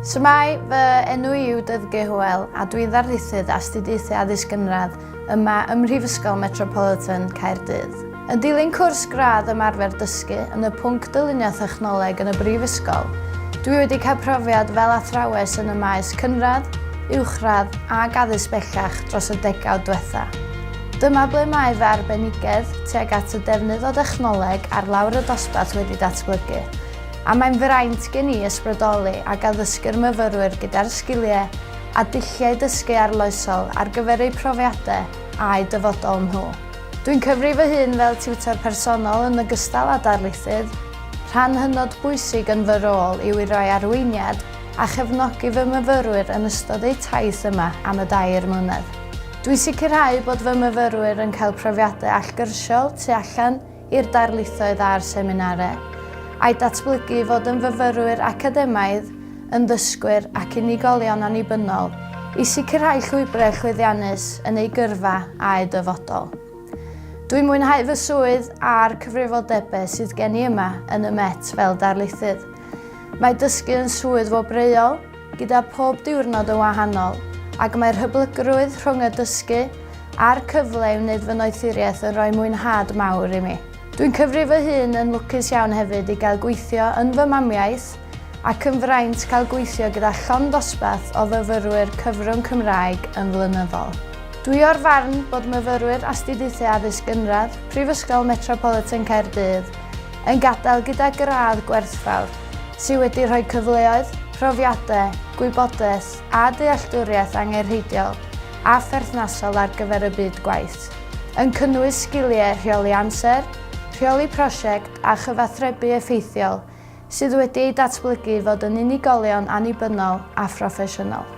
Shwmae, fy enw i yw Dyfge Hywel a dwi'n ddarlithydd Astudiaethau Addysg Gynradd yma ym Mhrifysgol Metropolitan Caerdydd. Yn dilyn cwrs gradd ymarfer dysgu yn y pwnc dylunio thechnoleg yn y Brifysgol, dwi wedi cael profiad fel athrawes yn y maes cynradd, uwchradd ac addysg bellach dros y degawd diwetha'. Dyma ble mae fy arbenigedd tuag at y defnydd o dechnoleg ar lawr y dosbarth wedi datblygu. a mae'n fraint gen i ysbrydoli ac addysgu'r myfyrwyr gyda'r sgiliau a dulliau dysgu arloesol ar gyfer eu profiadau a'u dyfodol nhw. Dwi'n cyfri fy hun fel tiwtor personol yn ogystal â darlithydd, rhan hynod bwysig yn fy rôl yw i roi arweiniad a chefnogi fy myfyrwyr yn ystod eu taith yma am y dair mlynedd. Dwi'n sicrhau bod fy myfyrwyr yn cael profiadau allgyrsiol tu allan i'r darlithoedd a'r seminarau, a'i datblygu i fod yn fyfyrwyr academaidd, yn ddysgwyr ac unigolion annibynnol, i sicrhau llwybrau chwyddiannus yn eu gyrfa a'u dyfodol. Dwi'n mwynhau fy swydd a'r cyfrifoldebau sydd gen i yma yn y Met fel darlithydd. Mae dysgu yn swydd wobreuol, gyda phob diwrnod yn wahanol, ac mae'r hyblygrwydd rhwng y dysgu a'r cyfle i wneud fy noethuriaeth yn rhoi mwynhad mawr i mi. Dwi'n cyfri fy hun yn lwcus iawn hefyd i gael gweithio yn fy mamiaith ac yn fraint cael gweithio gyda llond dosbarth o fyfyrwyr cyfrwng Cymraeg yn flynyddol. Dwi o'r farn bod myfyrwyr Astudiaethau Addysg Gynradd Prifysgol Metropolitan Caerdydd yn gadael gyda gradd gwerthfawr sydd wedi rhoi cyfleoedd, profiadau, gwybodaeth a dealltwriaeth angenrheidiol a pherthnasol ar gyfer y byd gwaith, yn cynnwys sgiliau rheoli amser, rheoli prosiect a chyfathrebu effeithiol sydd wedi eu datblygu i fod yn unigolion annibynnol a phroffesiynol.